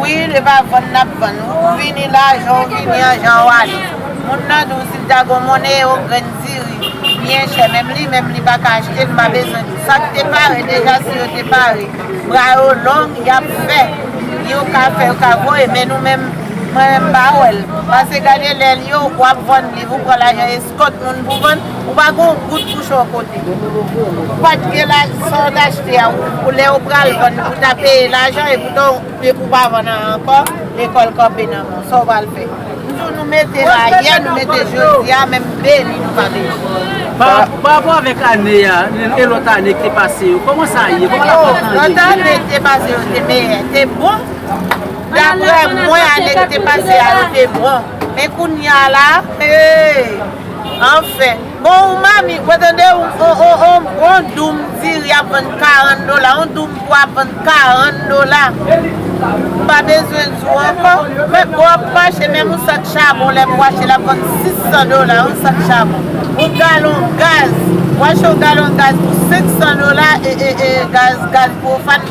Wi e pa vann nap vann ou vini la jan ou vini an jan ou ale moun nan di ou sil ta gon monnen ewo grenn diri byen chè menm li menm li paka achtel mpa bezwen di sak te pare deja si yo te pare bra yo long yap fè yo ka fè yo ka voye men nou menm mwen menm mpa wèl pase gade lèl yo wap vann liv ou pran lajan. Kot moun pou vann, ou pa gon goud pou cho kote. Ou pat gen lajan sa ou t achte a pou lè ou pral vann pou ta peye lajan e poutan ou pa vann an ankò lekòl kanpe nan men w sa ou pral fè. M di w nou mete la yè nou mete jodi a menm beni nou pa beni. Parapò avèk ane a e lòt ane ki te pase yo kòman sa ye? Kòman la pant lan ye? Lòt ane ki te pase yo te meyè, te bon. Daprè mwen ane ki te pase a yo te bon. Men kounya la eeyy anfen. Bon ou mami ou tande ou on on on bon doum diri ap vann 40 dola on doum pwa ap vann 40 dola m pa bezwen di w ankò men bon ap mache menm on sak chabon lè m wache l ap vann 600 dola on sak chabon on galon gaz wache on galon gaz pou 500 dola e e e gaz gaz pwofàn.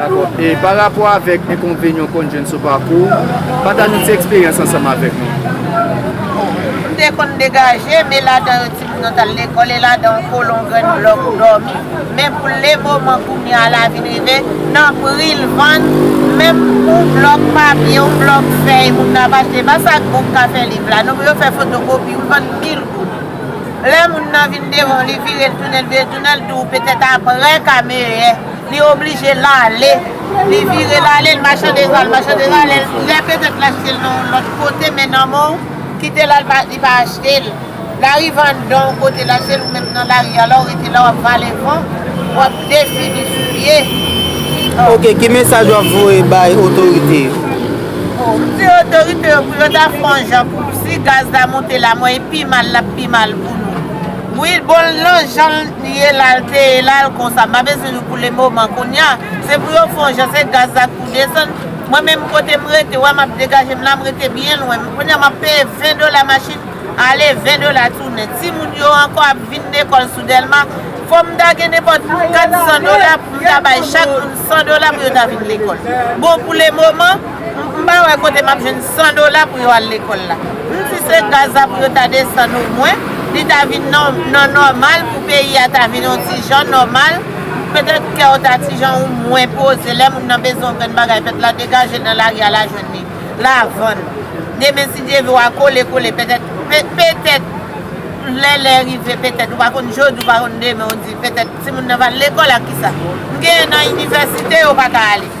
Dakò. E pa rapò avèk enkonvenyon ou konn jwenn sou pakou ou, pataj yon ti eksperyans ansanm avèk nou. Bon, m te konn degaje m e ladan yo timoun yo t al lekòl e ladan yon kolon grenn blòk dòmi. Men pou lemoman kounye a la vin rive nan pri l vann, menm yon blòk papye, yon blòk fèy moun nan ap achte, pa sa ak bon m ka fè liv la non, pou yo fè fotokopi, yo vann mil goud. Lè moun nan vin devan w li vire l tounen l vire l tounen l di w petèt aprè ka meyè. Li oblije l ale. Li vire l ale, l machande zwa l, machande zwa l, lè petèt l achte l nan yon lòt kote men nan men w, kite la li pa achte l. Lari vandan w kote l achte l ou menm nan lari a la w rete la w ap vale van, w ap defini soulye. Ok, ki mesaj w ap voye bay otorite yo? Bon, m di otorite yo pou yo ta fè yon jan pou si gaz la monte la mwen e pi mal l ap pi mal pou nou. Wi, bon l nan jan l. Priye lal teye lal konsa. M pa bezwen nou pou le moman kounya. Se pou yo fon jan se gaz la k pou desann. Mwen menm kote m rete wè map degaje m la m rete byen lwen. Kounya map peye 20 dola machin ale 20 dola tounen. Timoun yo ankò ap vin lekòl sou Dèlma. Fòm m ta gen nenpòt 400 dola pou m ta bay chak moun 100 dola pou yo ta vin lekòl. Bon pou le moman. M pa wè kote map jwenn 100 dola pou yo al lekòl la. M si se gaz la pou yo ta desann o mwen, li ta vin nan nòmal pou peyi a ta vin on ti jan nòmal, petèt kè w ta ti jan ou mwen poze lè moun nan bezwen on grenn bagay fèt la degaje l nan lari a la jwenn li, la vann. Demen si Dye vle w a kole kole petèt petèt lè lè rive petèt ou pa konn jodi ou pa konn demen ou di petèt timoun nan va al lekòl ak kisa? M genyen nan inivèsite yo pa ka ale.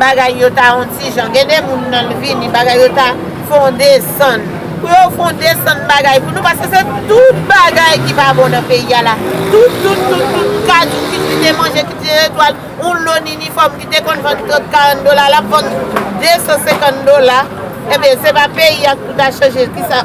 Bagay yo ta on ti jan. Gen de moun nan vini bagay yo ta fon desann. Pou yo fon desann bagay pou nou paske se tout bagay ki pa bon nan peyi a la. Tout, tout, tout, tout kajou ki ti te manje, ki ti etwal, on lo ninifòm ki te konn vann 30, 40 dola lap vann 250 dola. Ebyen se pa peyi a pou ta chanje ki sa.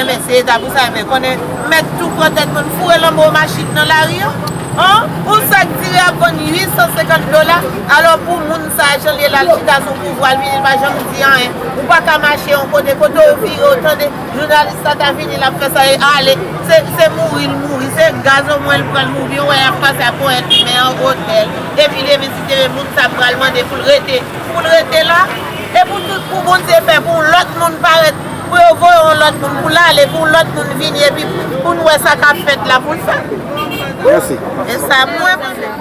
Enben se eta pou sa enben konnen mèt tou pran tèt moun foure lanbo machin nan lari an an on sak diri ap vann 850 dola alò pou moun sa janl ye lal chita sou pouvwal vini l pa janm di anyen ou paka mache on kote kote ou vire ou tande jounalis sa ta vini lap fè sa e ale se mouri l mouri se gaz o mwen l pran l mouvi ou wè yap pase ak ponyèt li men an otèl epi li vin site moun sa pral mande poul rete poul rete la e pou tout pou bondye fè pou on lòt moun parèt. pou yo voye yon lòt moun pou l ale pou yon lòt moun vini epi pou n wè sa k ap fèt la pou l fè. Mèsi. E sa m wè mwen menm.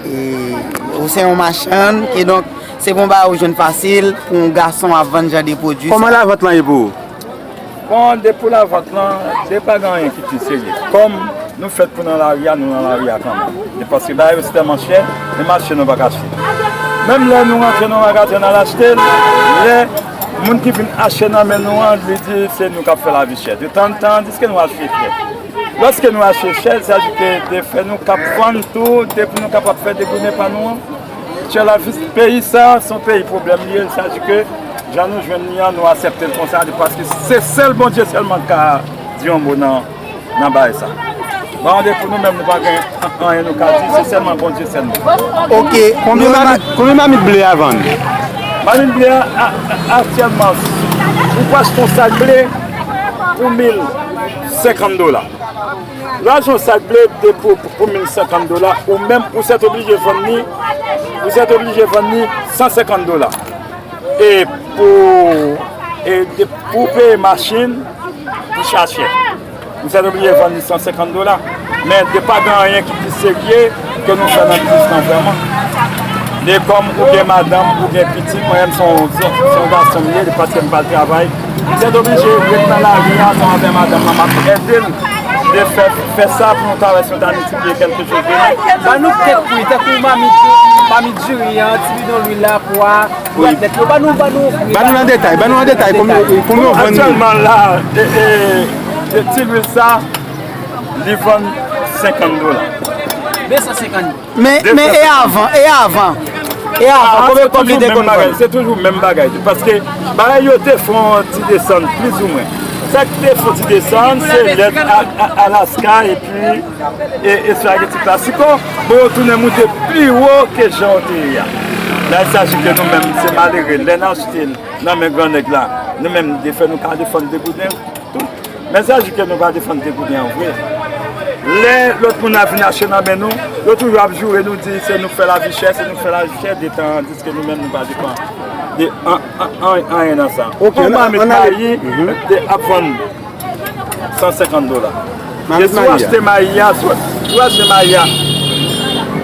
E ou se yon machann e donk se pa yon bagay ou jwenn fasil pou yon gason ap vann jan de pwodui sa. Kòman lavant lan ye pou ou? Bon de pou lavant lan se pa gen anyen ki pi serye. Kòm nou fèt pou nan lari a, nou nan lari a kanmenm. E paske bagay yo tèlman chè, menm achte nou pa ka achte. Menm lè nou rantre nan yon magazen nan al achte l, lè. Moun ki vin achte nan men nou an, li di se nou kap fè la vi chè. De tan tan, li di eske nou achte chè. Lòske nou achte chè, sa di ke de fè nou kap vann tou, de pou nou kapap fè de gounen pa nou an. Chè la vi, peyi sa, son peyi pwoblèm li ye, sa di ke jan nou jwenn li an, nou asepte l konsa, li paske se sèl Bondye sèlman ka di yon mo nan. nan baay sa. Ba an de pou nou menm nou pa gen anyen nou ka di, se sèlman Bondye sèlman. Ok, konbyen mamit ble a vann? Mamit ble a aktyèlman, ou pa achte yon sak ble pou 1050 dola. Lè achte yon sak ble pou 1050 dola, ou menm ou sèt oblije vann ni, ou sèt oblije vann ni 150 dola. E pou, e pou peye machin. Li cha chè. Nou sète oblije vann li 150 dola. Men, de pa gen anyen ki pi serye ke nou fè nan biznis nan vreman. De kom ou gen madanm, ou gen piti, mwen menm son yon gason mye, de paske m pa travay. Nou sète oblije ret nan la ri a, mwen avè madanm nan map ede l. De fè, fè sa pou nou ta wè si nou ta miltipliye kelke chos demen. Ban nou kèk pri, tankou mamit, mamit diri an, ti bidon lwil la, pwa. Ban nou an detay, ban nou an detay konbyen yo vann li. Aktyèlman la, ti lwil sa, li vann 50 dola. 250 dola. Men e avan, e avan? E avan, konbyen kòb li te konn vann? Se toujou menm bagay. Paske bagay yo te fon ti desann, plizoumwen. Sa ki te fon ti desann, se lèt Alaska epi. E espageti klasiko pou yo tounen moute pi wo ke jan yo te ye a. La il saji ke nou menm se malere lè n achte l nan men gran nèg la nou menm li fè nou pa defann degouden tou. Lè saji ke nou pa defann degouden an vre lè lòt moun ap vin achte nan men nou yo toujou ap joure nou di se nou fè lavi chè, se nou fè lavi chè detan an diske nou menm nou pa defann de anyen nan sa. Kòman met mayi ap vann. 150 dola. E si w achte mayi a, si w achte mayi a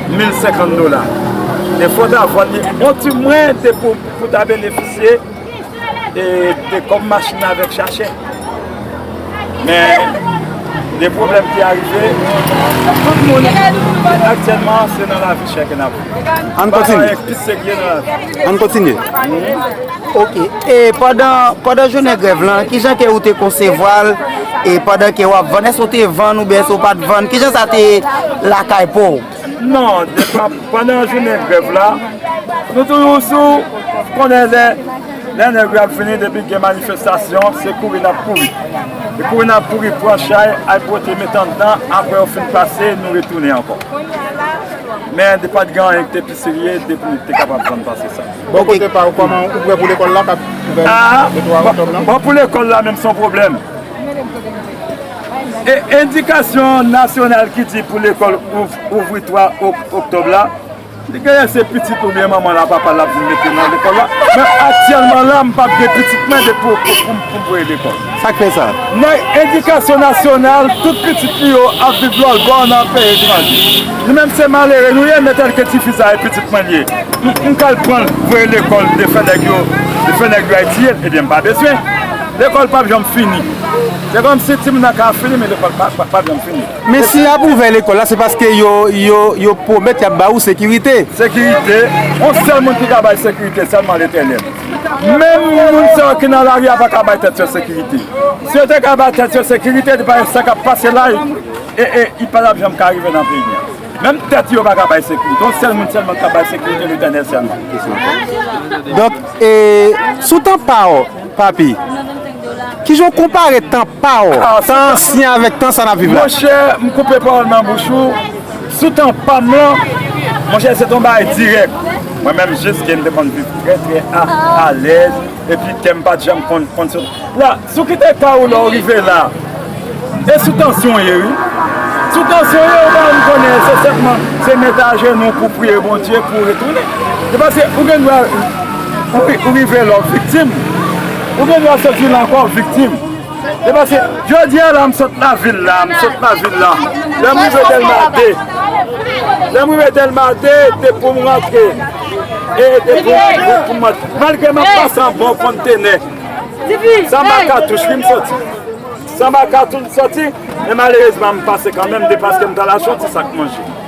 1050 dola, e fò w ta vann li yon ti mwen te pou w ta benefisye de kòb machin nan avèk chachè. Men, de pwoblèm ki arive, tout moun aktyèlman se nan lavi chè ke n ap viv. An kontinye. An kontinye. Ok e pandan pandan jounen grèv lan kijan ke ou te konsevwal e pandan ke wap vann èske ou te vann oubyen èske ou pat vann kijan sa te lakay pouw? Non depa pandan jounen grèv la nou toujou sou konnen lè lè nèg yo ap vini depi gen manifestasyon se kouri nap kouri e kouri nap kouri pran chay al pote met anndan aprè yo fin pase nou retounen ankò men depat gen anyen ki te pi serye depi nou te kapab vann pase sa. Bò kote pa ou, kòman ou prè pou lekòl la kap ouvè le 3 oktòb lan? Bon pou lekòl la menm son pwoblèm. E endikasyon nasyonal ki di pou lekòl ouvri 3 oktòb la, li genyen se pitit ou byen manman l a papa l ap vin mete nan lekòl la. Men aktyèlman la m pap gen pitit mwen de pou m voye lekòl. Sa k fè sa? Nan edikasyon nasyonal, tout pitit nou yo ap viv lòt bò nan peyi etranje. Nou menm se malere nou ye, men tèlke ti fi sa e pitit mwen l ye, m ka al pran l voye l lekòl de fè nèg yo de fè nèg yo ayitiyen l, ebyen m pa bezwen. Lekòl p ap janm fini. Se kòmsi timoun nan ka fini men lekòl pa p janm fini. Men si y ap ouvè lekòl la se paske yo pwomèt y ap ba ou sekirite. Sekirite? On sèl moun ki ka bay sekirite sèlman Letènèl. Menm moun sa yo ki nan lari a pa ka bay tèt yo sekirite. Si yo te ka bay tèt yo sekirite, li pa gen sa k ap pase la e li pa t ap janm ka rive nan peyi a. Menm tèt yo pa ka bay sekirite. Yon sèl moun sèlman ki ka bay sekirite, Letènèl sèlman. Donk, sou tan pa w, Papi, ki jan w konpare tan pa w, tan ansyen avèk tan sa n ap viv la? Monchè, m koupe pawòl nan bouch ou. Sou tan pa m lan, monchè se t yon bagay dirèk. Mwen menm jis ke m te konn viv trè trè alèz epi kè m pa t janm konn konn sot. La, sou ki te ka ou lè w rive la? E sou tansyon w ye wi. Sou tansyon w ye ou pa janm konnen se senpman se mete ajenou w pou w priye Bondye pou w retounen. Se paske ou gen dwa ou rive la w viktim, ou gen dwa soti la ankò w viktim. Se paske jodi a la m sot lavil la, m sot lavil la, lè m rive Dèlma 2, lè m rive Dèlma 2 te pou m rantre, e te pou m antre, malgre m ap pase anba yon konntenè, sanba katouch wi m soti, sanba katouch m soti, men malerezman m pase kanmenm depaske m ta al achte yon ti sak manje.